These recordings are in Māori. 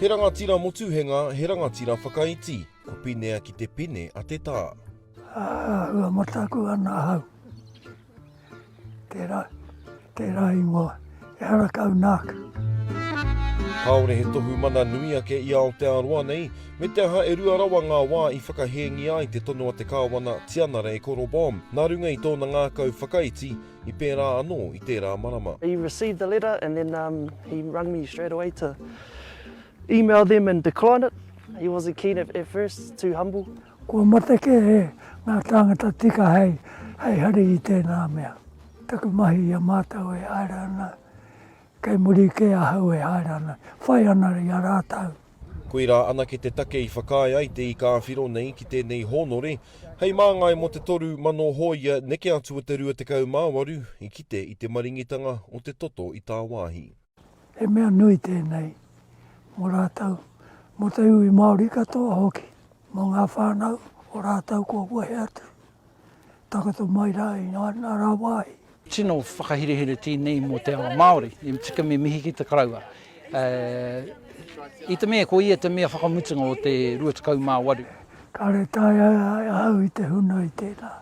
He rangatira motuhenga, he rangatira whakaiti. Ko Pinea ki te pine a te tā. Ā, ua mataku ana ahau. Tērā, tērā ingoa, ehara kau nāku. Kāore he tohu mana nui ake i Aotearoa nei, me te aha e rua rawa ngā wā i whakahēngia ai te tono a te Kāwana Tianara e Korobom, nā runga i tōna ngākau whakaiti, i pērā anō i tērā marama. He received the letter and then um, he rung me straight away to email them and decline it. He wasn't keen at, at first, too humble. Kua mate kē e ngā tāngata tika hei hari i tēnā mea. Taku mahi i a mātou e haere ana, kei muri kē ahau e haere ana, whai ana i a rātou. Koirā anake te take i whakaae ai te ika awhiro nei ki tēnei hōnore, hei māngai mō te toru mano hōia neke atu o te 28 i kite i te maringitanga o te toto i tāwāhi. He mea nui tēnei mō rātou, mō te iwi Māori katoa hoki, mō ngā whānau o rātou kua wehe atu, takoto mai rā i ngā rā wāhi. Tino whakaherehere tēnei mō te ao Māori, e tika me mihi ki te karaua. I te mea ko ia te mea whakamutunga o te 28. Kāore e taea e ahau i te huna i tēnā.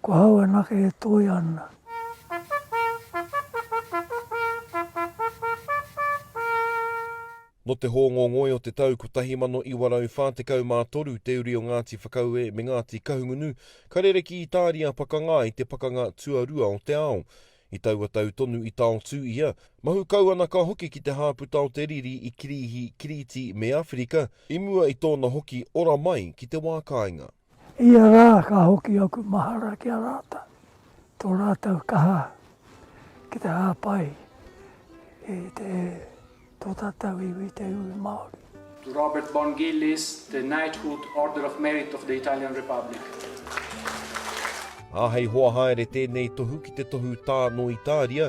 Ko hau anake e toia ana. Nō te hōngongoi o te tau 1943 te uri o Ngāti Whakaue me Ngāti Kahungunu ka rere ki Itāria pakanga i te Pakanga Tuarua o te Ao. I taua tau tonu i taotū ia, mahu kauanaka hoki ki te hāputa o te riri i Kirīhi, Kirīti me Awherika, i mua i tōna hoki ora mai ki te wā kāinga. Ia rā ka hoki aku mahara ki a rātou, tō rātou kaha ki te hāpai i te, tō tātou iwi, te iwi Māori. To Robert Bon Gillies, the Knighthood, Order of Merit of the Italian Republic. Āhei hoa haere tēnei tohu ki te tohu tā nō Itāria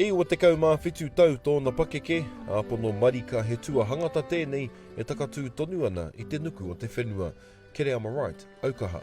E 27 tau tōna pakeke, āpono marika he tuahangata tēnei e takatū tonu ana i te nuku o te whenua. Kereama Wright, Aukaha.